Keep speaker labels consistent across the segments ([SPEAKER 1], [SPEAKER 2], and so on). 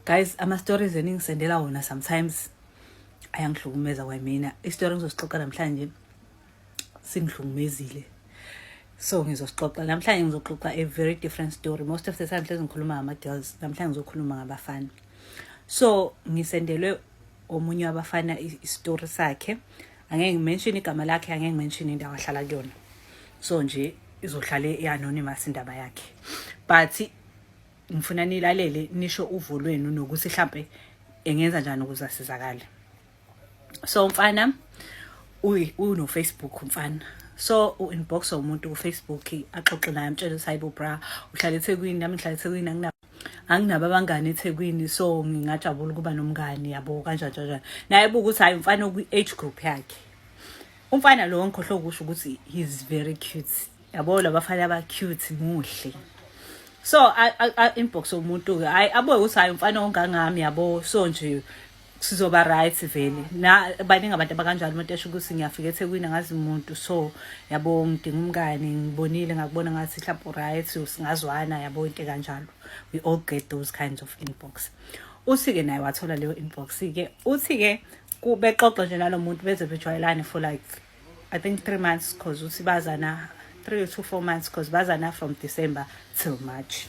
[SPEAKER 1] guys ama stories eningisendela wona sometimes ayangihlukumeza kwamina istory ngizosixoxa namhlanje singihlukumezile so ngizosixoxa namhlanje ngizoxoxa a very different story most of the time hlezi ngikhuluma ngama-girls namhlanje ngizokhuluma ngabafana so ngisendelwe omunye wabafana isitori sakhe angeke ngimenshini igama lakhe angeke ngimenshini indawo ahlala kuyona so nje izohlale i-anonymous indaba yakhe but ngifuna nilalele nisho uvo lwenu nokuthi hlampe engenza njani ukuze asizakale so mfana uno Facebook mfana so u-inbox umuntu kufacebook axoxe naye amtshele ukuthi hayibo bra uhlala ethekwini nami ngihlala ethekwini anginabo anginabo abangani ethekwini so ngingajabula ukuba nomngani yabo kanjani kanjani naye buke ukuthi hhayi umfana okwi-age group yakhe umfana lowo ngikhohlwe ukusho ukuthi he's very cute yabo labafana aba cute muhle so inbox yomuntu ke hayi abuye ukuthi hayi umfana ongangami yabo so nje sizoba right vele na baningi abantu abakanjalo umuntu esho ukuthi ngiyafika ethekwini angazi umuntu so yabo ngidinga umngane ngibonile ngakubona ngathi mhlawumbe right singazwana yabo into kanjalo we all get those kinds of inbox uthi-ke naye wathola leyo inbox-ke uthi-ke bexoxa nje nalo muntu beze bejwayelane for like I think 3 months cause uthi bazana 3 to 4 months cause bazana from December till March.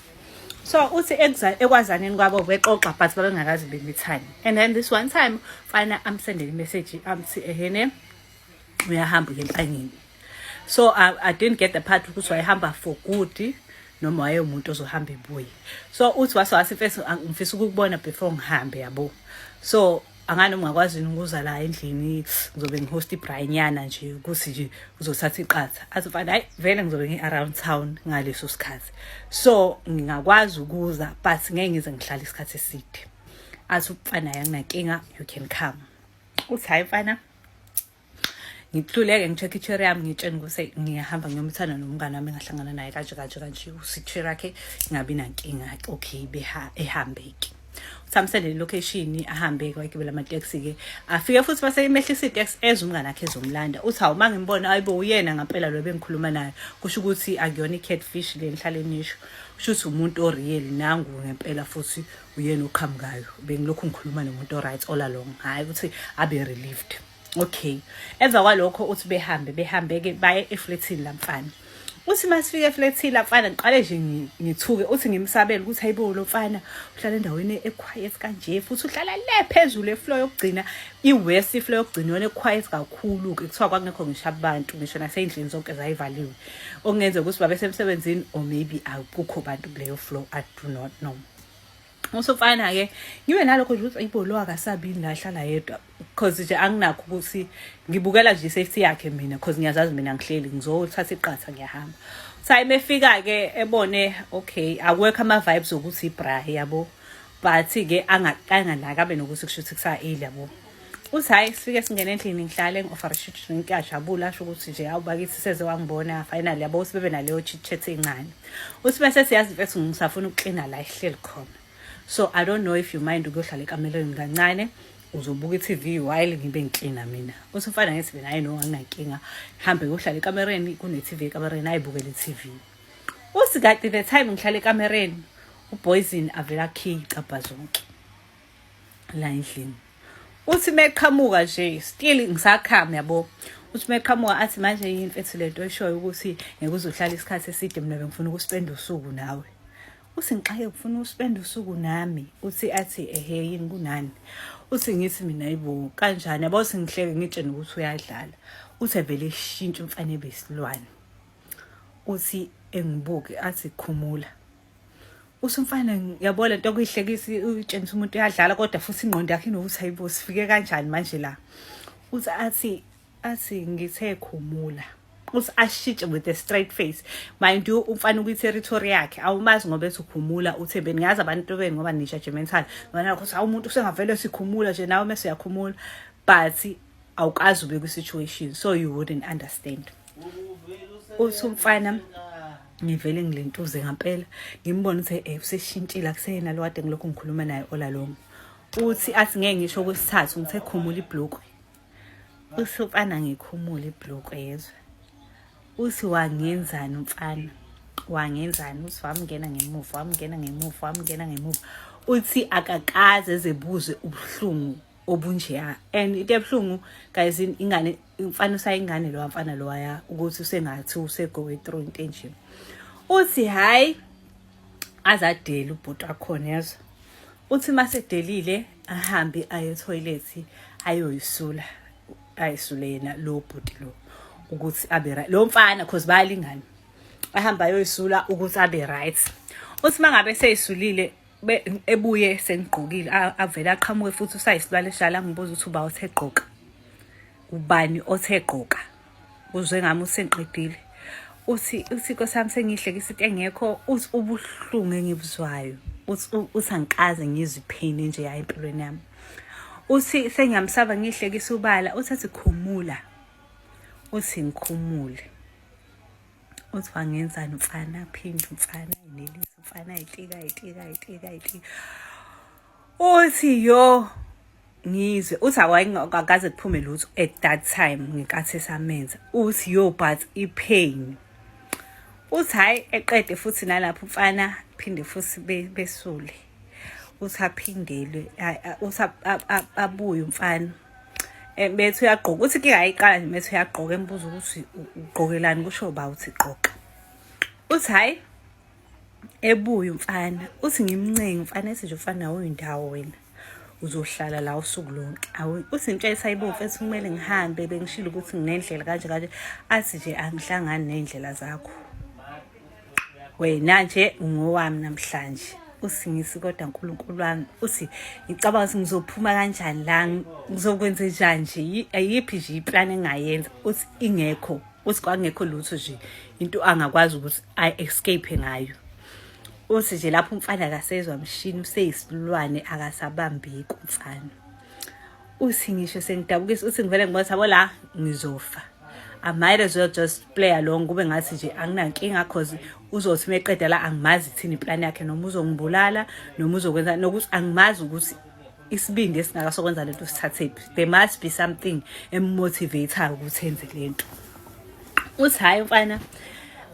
[SPEAKER 1] So uthi ekwazaneni kwabo bexoxa but babengakazi bemithani. And then this one time fana I'm sending a message amthi ehene uyahamba ngempangeni. So I, I didn't get the part ukuthi wayehamba for good noma waye umuntu ozohamba ebuye. So uthi wase wase mfisa ukubona before ngihambe yabo. So angani ungakwazi yini ukuza la endlini ngizobe ngihost ibraynyana nje ukuthi nje uzothatha iqatha athi mfana hayi vele ngizobe ngi-around town ngaleso sikhathi so ngingakwazi ukuza but ngeke ngize ngihlale isikhathi eside athi umfana yanginankinga you can come uthi hhayi mfana ngihluleke ngi-check i-chair yami ngitsheni ukuthi ngiyahamba ngiyomthanda nomngane wami engahlangana naye kanje kanje kanje usi-chair yakhe ingabi nankinga okay ehambeki samsele location ahambe kwagibela amateksi ke afike futhi base imehlisa itex ezwe umngane akhe ezomlanda uthi hawu mangimbona ayibo uyena ngempela lo bengikhuluma naye kusho ukuthi akuyona i-catfish le ngihlale nisho kusho ukuthi umuntu oreal nangu ngempela futhi uyena oqhamukayo bengilokhu ngikhuluma nomuntu oright all along hhayi ukuthi abe relieved okay emva kwalokho uthi behambe behambe-ke baye eflethini lamfana uthi uma sifike eflethini lamfana ngiqale nje ngithuke uthi ngimsabele ukuthi hayibo lo mfana uhlala endaweni equiet kanje futhi uhlala le phezulu efloor yokugcina i-west ifloor yokugcina yona equiet kakhulu-ke kuthiwa kwakungekho ngisho abantu ngisho nasey'ndlini zonke zayivaliwe okungenzeka ukuthi babesemsebenzini or maybe akukho bantu kuleyo floor i do not know usofana ke ngibe nalokho nje ukuthi ayibo lo akasabini la hlala yedwa because nje anginakho ukuthi ngibukela nje safety yakhe mina because ngiyazazi mina ngihleli ngizothatha iqatha ngiyahamba time efika ke ebone okay akwekho ama vibes okuthi bra yabo but ke angakanganaka benokuthi kushuthi kusa 8 yabo uthi hhayi sifike singene endlini ngihlale ngi-ofarishitshini ngiyajabula asho ukuthi nje awu bakithi seze wangibona finally yabo uthi bebe naleyo chitchet encane uthi bese siyazi mfethu ngisafuna ukuklina la ihleli khona so i don't know if you mind ukuyohlala ekamelweni kancane uzobuka i-tv while ngibe ngiklina mina uthi umfana ngithi mina hayi no anginankinga hambe yohlala ekamereni kune-tv ekamereni ayibukele i-tv uthi kade the time ngihlala ekamereni uboyzin avela khiyi cabha zonke la endlini uthi meqhamuka nje still ngisakhama yabo uthi meqhamuka athi manje yini mfethu lento eshoyo ukuthi ngeke uzohlala isikhathi eside mina bengifuna ukuspenda usuku nawe uthi ngixake ngifuna ukuspenda usuku nami uthi athi ehe yini kunani uthi ngithi mina yibo kanjani yabo singihleke ngitshene ukuthi uyadlala uthi vele shintsha umfane besilwane uthi engibuke athi khumula usumfana yabo le nto kuyihlekisa utshengisa umuntu uyadlala kodwa futhi ingqondo yakhe inokuthi hayibo sifike kanjani manje la uthi athi athi ngithe khumula uthi ashitshe with a straight face mind you umfana ukwi-territory yakhe awumazi ngoba ethi ukhumula uthe beningazi abantu beni ngoba ni-judgmental ngona ukuthi awumuntu usengavele sikhumula nje nawe mese uyakhumula but awukazi ube kwi-situation so you wouldn't understand uthi umfana ngivele ngilentuze ngampela ngimbona ukuthi eh useshintshile akuseyena lo kade ngilokhu ngikhuluma naye ola lomo uthi athi ngeke ngisho kwesithathu ngithe khumula ibhlukwe uthi umfana ngikhumula ibhlukwe yezwe uthi wangenzani umfana wangenzani uthi wamngena ngemuva wamngena ngemuva wamngena ngemuva uthi akakaze ezebuze ubuhlungu obunjeya and into ebuhlungu guys ingane umfana usayingane lowa mfana lowaya ukuthi usengathi usegowe through into enje uthi hayi azadela ubhuti wakhona yazo uthi masedelile ahambe aye toilet ayoyisula ayisule yena lo bhuti lo ukuthi abe right lo mfana cause bayalingana ahamba ayoyisula ukuthi abe right uthi mangabe seyisulile ebuye sengigqokile avele aqhamuke futhi usayisilwane shala ngibuza ukuthi uba othe gqoka ubani othe gqoka uzwe ngami usengiqedile uthi uthi nkosami sengihlekisa into engekho uthi ubuhlungu engibuzwayo uthi uthi angikaze ngizwe iphini nje yayi empilweni yami uthi sengiyamsaba ngihlekisa ubala uthi athi khumula uthi ngikhumule uthi wangenzani mfana phinde mfana inelisi mfana itika itika itika itika uthi yo ngizwe uthi awayingakaze kuphume lutho at that time ngenkathi esamenza uthi yo but ipain uthi hhayi eqede futhi nalapho mfana phinde futhi besule uthi aphindelwe uthi abuye umfana um bethi uyagqoka ukuthi ke ayiqala nje bethi uyagqoka embuza ukuthi ugqokelani kusho ba uthi gqoka uthi hhayi ebuye umfana uthi ngimncenge umfana ethi nje umfana awuyindawo wena uzohlala la usuku lonke uthi intsha esayibomfu ethi kumele ngihambe bengishilo ukuthi nginendlela kanje kanje athi nje angihlangani ney'ndlela zakho wena nje ungowami namhlanje usingisi kodwa nkulunkulu wami uthi ngicabanga ukuthi ngizophuma kanjani la ngizokwenza njani nje ayiphi nje iplan engayenza uthi ingekho uthi kwakungekho lutho nje into angakwazi ukuthi i escape ngayo uthi nje lapho umfana akasezwa mshini useyisilwane akasabambeki umfana uthi ngisho sengidabukisa uthi ngivele ngibona sabo la ngizofa I might as well just play along kube ngathi nje anginankinga cause uzothi meqeda la angimazi thini plan yakhe noma uzongibulala noma uzokwenza nokuthi angimazi ukuthi isibindi esingaka sokwenza lento sithathephi there must be something emotivator ukuthi enze lento uthi hayi mfana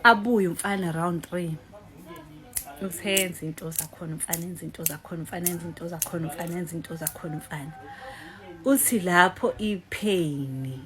[SPEAKER 1] abuye umfana round 3 useyenza into zakhona umfana enza into zakhona umfana enza into zakhona umfana enza into zakhona umfana uthi lapho ipheyini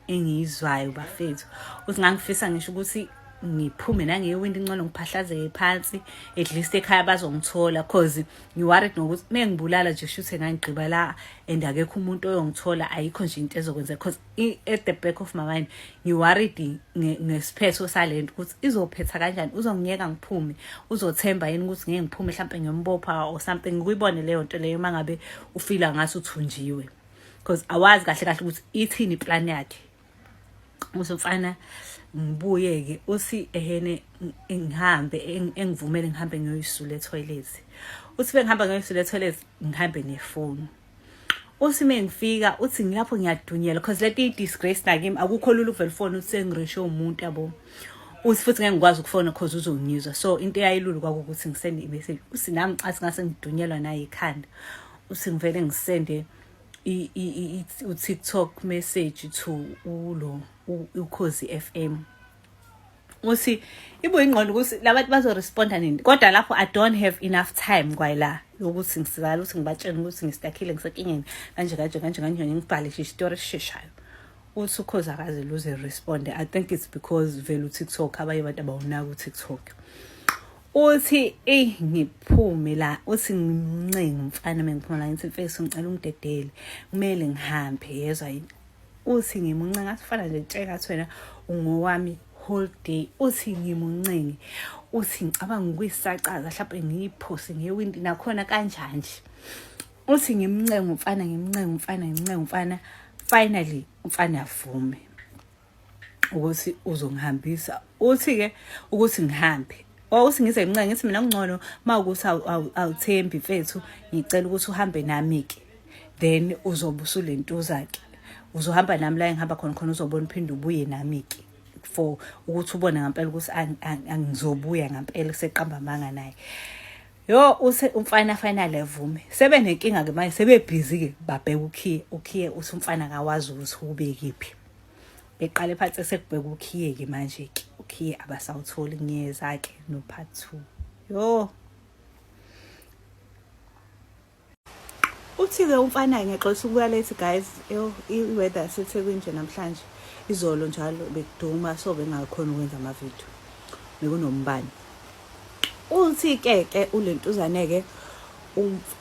[SPEAKER 1] engiyizwayo bafethu uthi ngangifisa ngisho ukuthi ngiphume nangewindi incono ngiphahlazeke phansi at least ekhaya bazongithola cause ngiworried nokuthi mengibulala nje shuthe ngangigqiba la and akekho umuntu oyongithola ayikho nje into ezokwenza cause at the back of my mind ngiworried ngesiphetho salento ukuthi izophetha kanjani uzongiyeka ngiphume uzothemba yini ukuthi ngeke ngiphume mhlawumpe ngiyombopha or something ngikuyibone leyo nto leyo uma ngabe ufila ngathi uthunjiwe because awazi kahle kahle ukuthi ithini iplan yakhe uzofana ngibuye-ke uthi ehene ngihambe engivumele ngihambe ngiyoyisula ethoyilethi uthi bengihamba ngiyoyisula ethoyilethi ngihambe nefoni uthi uma ngifika uthi ngilapho ngiyadunyela because lento iyi-disgrace nakimi akukho lula ukuvela ufone uthi sengireshe umuntu yabo uthi futhi ngeke ngikwazi ukufona cause uzongizwa so into eyayilulu kwakukuthi ngisende imessage uthi nami ngicathi ngase ngidunyelwa naye ikhanda uthi ngivele ngisende u-tiktok message to ulo ukhozi f m ukuthi ibo ingqondo ukuthi labantu bazoresponda nini kodwa lapho i don't have enough time kwayila yokuthi ngisizala ukuthi ngibatshele ukuthi ngistakhile ngisekingeni kanje kanje kanje kanje ngibhale nje isitori esisheshayo uthi ukhoze akaze luze responde i think it's because vele utiktok abanye abantu abawunaki utiktok uthi eyi ngiphume la uthi ngimncenga umfana mengiphuma la ngithi mfesi ngicela ungidedele kumele ngihambe yezwa yini uthi ngimuncenga asifana nje tshela athi wena ungowami whole day uthi ngimuncengi uthi ngicabanga ukuyisaqaza mhlawumbe ngiyiphose ngewindi nakhona kanjani nje uthi ngimncenga umfana ngimncenga umfana ngimncenga umfana finally umfana avume ukuthi uzongihambisa uthi-ke ukuthi ngihambe wawuthi ngize ngincane ngithi mina kungcono uma ukuthi awuthembi mfethu ngicela ukuthi uhambe nami-ke then uzobe usulentuza-ke uzohamba nami la engihamba khona khona uzobona uphinde ubuye nami-ke for ukuthi ubone ngampela ukuthi angizobuya ngampela kuseqamba amanga naye yo use umfana finally evume sebe nenkinga ke manje sebebhizi ke babheka ukhiye ukhiye uthi umfana akawazi ukuthi ubekiphi beqale phansi sekubheka ukhiye ke manje ke ukhiye abasawutholi ngiyeza ke no part 2 yo uthi ke umfana ngexoxa ukuya late guys yo i weather sethekwini nje namhlanje izolo njalo bekuduma so bengakhona ukwenza ama video bekunombani uthi ke ke ulentuzane ke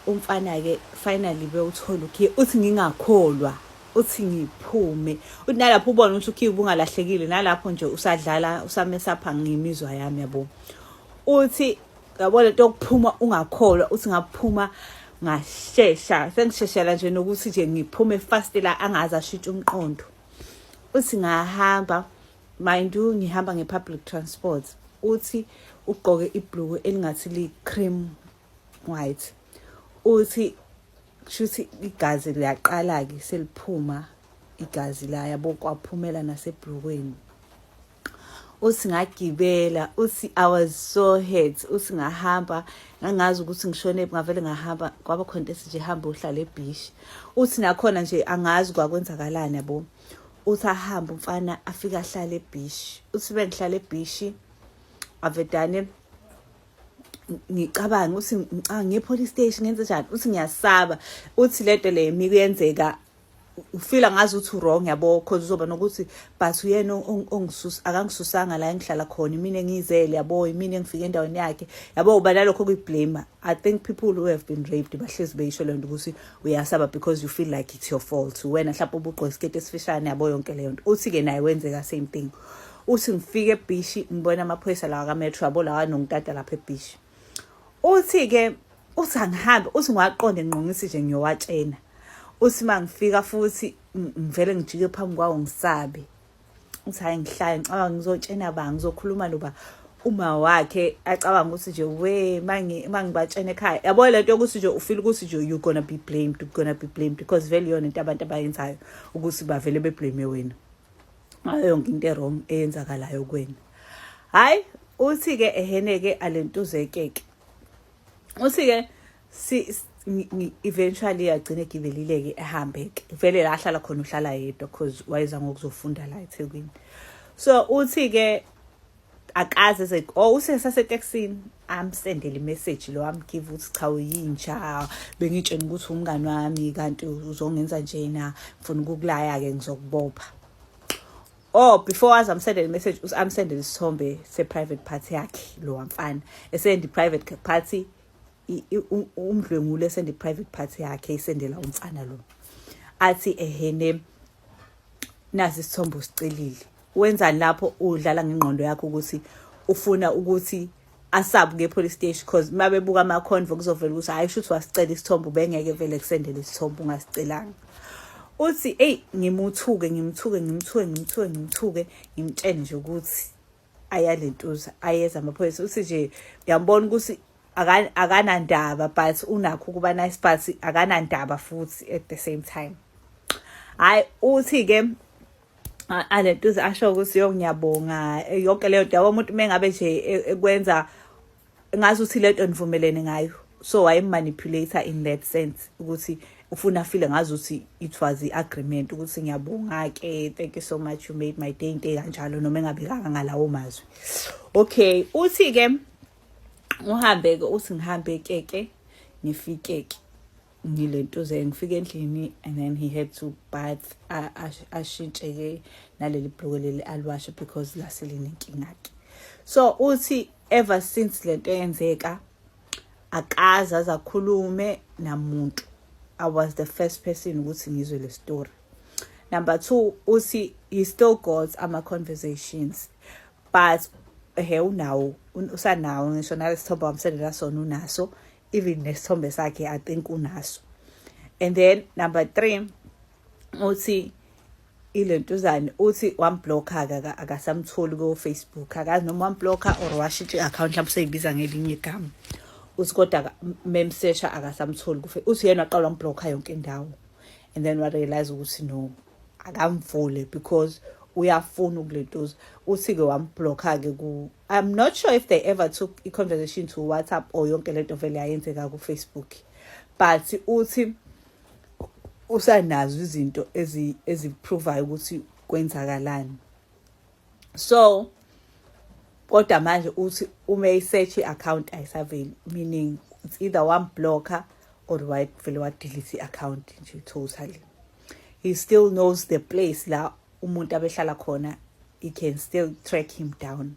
[SPEAKER 1] umfana ke finally bewuthola ukhiye uthi ngingakholwa uthi ngiphume uthi nalapho ubona ukuthi ukhiye ubungalahlekile nalapho nje usadlala usamesapha ngimizwa yami yabo uthi yabo lento yokuphuma ungakholwa uthi ngaphuma ngashesha sengisheshela nje nokuthi nje ngiphume fast la angazi ashintshe umqondo uthi ngahamba mind you ngihamba nge-public transport uthi ugqoke ibhluku elingathi li-cream White uthi kushuthi igazi liyaqala ke seliphuma igazi la yabo kwaphumela nasebhlukweni uthi ngagibela uthi i was so hurt uthi ngahamba ngangazi ukuthi ngishone ngavele ngahamba kwaba khona into nje hamba uhlala ebhishi uthi nakhona nje angazi kwakwenzakalani yabo uthi ahamba umfana afike ahlale ebhishi uthi bengihlala ebhishi avedane ngicabanga uthi ngicabanga ngiye police station ngenze njani uthi ngiyasaba uthi lento le yimi kuyenzeka ufila ngazi ukuthi wrong yabo cause uzoba nokuthi but uyena ongisusa akangisusanga la engihlala khona imina engiyizele yabo imina engifike endaweni yakhe yabo uba nalokho kuyiblame i think people who have been raped bahlezi beyisho lento ukuthi uyasaba because you feel like it's your fault wena mhlawumbe ubugqoke isiketi esifishane yabo yonke leyo nto uthi ke naye wenzeka same thing uthi ngifike ebhishi ngibona amaphoyisa lawa kametro yabo lawa nongitata lapha ebhishi uthi-ke uthi angihambe uthi ngiwaqonde nginqongisi nje ngiyowatshena uthi uma ngifika futhi ngivele ngijike phambi kwawo ngisabe uthi hhayi ngihlale ngicabanga ngizotshena ba ngizokhuluma noba uma wakhe acabanga ukuthi nje we uma ngibatshena ekhaya yabo le nto yokuthi nje ufile ukuthi nje you're gonna be blamed you're gonna be blamed because vele yona into abantu abayenzayo ukuthi bavele beblame wena ngayo yonke into erong eyenzakalayo kwena hayi uthi-ke eheneke alentuzekeke uthi-ke eventually agcine gibelileke ehambe-ke vele la ahlala khona uhlala yedwa because wayeza ngokuzofunda la ethekwini so uthi-ke akaze ze oh usesaseteksini amsendele imessage lo amgive ukuthi cha uyintsha bengitshena ukuthi umngani wami kanti uzongenza njena ngifuna ukukulaya ke ngizokubopha oh before waze amsendele imessage usamsendele isithombe se-private party yakhe lo wamfana esendi private party umdlwengule esendi private party yakhe isendela umfana lo athi ehene nazi isithombo sicelile wenzani lapho udlala ngengqondo yakho ukuthi ufuna ukuthi asabuke epolice station because uma bebuka ama-convo kuzovela ukuthi hhayi shuthi wasicela isithombo ubengeke vele kusendele isithombo ungasicelanga uthi eyi ngimuthuke ngimthuke ngimthuke ngimthuke ngimthuke ngimtshene nje ukuthi ayalentuza ayeza amaphoyisa uthi nje uyambona ukuthi akanandaba but unakho ukuba nice but akanandaba futhi at the same time hayi uthi ke alentuza asho ukuthi yo ngiyabonga yonke leyo nto yabo umuntu mengabe nje e, ekwenza ngazi ukuthi lento nivumelene ngayo so wayemanipulator in that sense ukuthi ufuna file ngazi ukuthi it was i-agreement ukuthi ngiyabonga ke thank you so much you made my day into kanjalo noma engabekanga ngalawo mazwi okay uthi ke uhambe ke uthi ngihambe keke ngifike ke ngilentuze ngifike endlini and then he had to bath ashintshe-ke naleli bhluke leli aliwashe because lase linenkinga-ke so uthi ever since le nto yenzeka akaze azakhulume namuntu i was the first person ukuthi ngizwe le story number two uthi he still got ama-conversations but he unawo usanawo ngisho nalesithombe wamsendela sona unaso even nesithombe sakhe i think unaso and then number 3 uthi ilentuzane uthi wamblocker akasamtholi ko Facebook akazi noma wamblocker or washintsha i-account mhlawumbe seyibiza ngelinye igama uthi kodwa memsesha akasamtholi ku uthi yena waqala wamblocker yonke indawo and then wa realize ukuthi no akamvule because uyafuna ukulentuza uthi-ke wambhlokha-ke I'm not sure if they ever took a conversation to WhatsApp or yonke lento vele yayenzeka ku Facebook but uthi usanazo izinto ezi eziprovayo ukuthi kwenzakalani so kodwa manje uthi uma isearch i-account ayisaveli meaning it's either one blocker or vele wadelete i-account nje totally he still knows the place la umuntu abehlala khona he can still track him down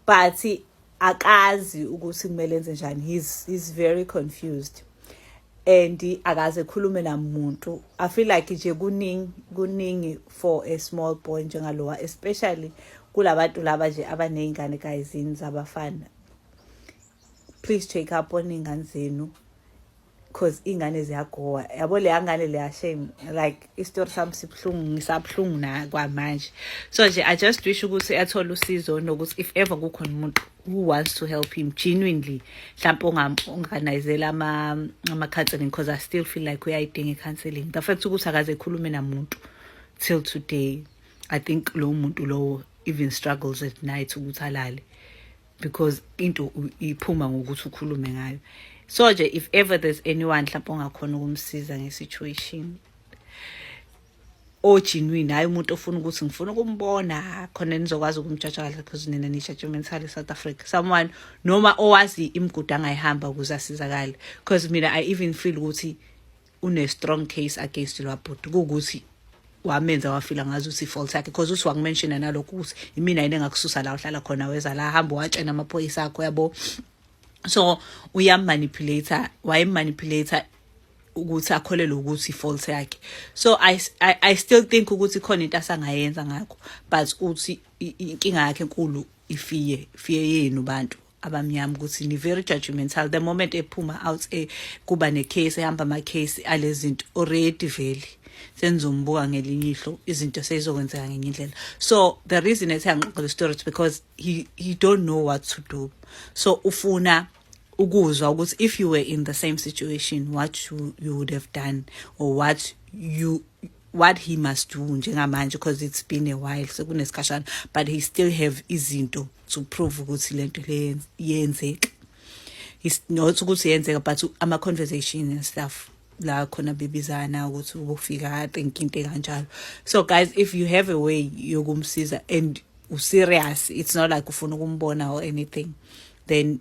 [SPEAKER 1] but akazi ukuthi kumele enze njani he's, he's very confused and akaze khulume namuntu i feel like nje kuningi kuningi for a small boy njengalowa especially kulabantu laba nje abaney'ngane kayizini zabafana please check up on iy'ngane zenu cause ingane ziyagowa yabo leya ngane leya shame like isitori sami sibuhlungu ngisabuhlungu na kwamanje so nje i just wish ukuthi athole usizo nokuthi if ever kukhona umuntu who wants to help him genuinely mhlawumpe onganayizela ama-counseling because i still feel like uyayidinga i-counseling the fact ukuthi akaze ekhulume namuntu till today i think lowo muntu lowo even struggles at night ukuthi alale because into iphuma ngokuthi ukhulume ngayo so nje if ever there's anyone mhlawumbe ongakhona ukumsiza nge-situation ojinwini hhayi umuntu ofuna ukuthi ngifuna ukumbona khona nizokwazi ukumjatsha kahle because nina ni-judgmental e-south africa someone noma owazi imigudu angayihamba ukuze asizakale because mina i even feel ukuthi une strong case against lwabhuti ukuthi wamenza wafila ngazi ukuthi fault yakhe because uthi wakumenshina nalokhu ukuthi imina yini engakususa la uhlala khona weza la hamba watshena amaphoyisa akho yabo so uyamanipulator wayemanipulator ukuthi akholelwe ukuthi fault yakhe so I, I i still think ukuthi khona into asangayenza ngakho but uthi inkinga yakhe enkulu ifiye fiye yenu bantu abamnyama ukuthi ni very judgmental the moment ephuma out e kuba ne case ehamba ama case alezinto already vele senizombuka ngelinye ihlo izinto seyizokwenzeka ngenye indlela so the reason ethi angiqoqe le story because he he don't know what to do so ufuna ukuzwa ukuthi if you were in the same situation what you, you would have done or what you what he must do njengamanje because it's been a while sekunesikashana but he still have izinto to prove ukuthi lento le yenzeka is not ukuthi yenzeka but ama conversation and stuff la khona bebizana ukuthi ubufika think into kanjalo so guys if you have a way yokumsiza and userious it's not like ufuna ukumbona or anything then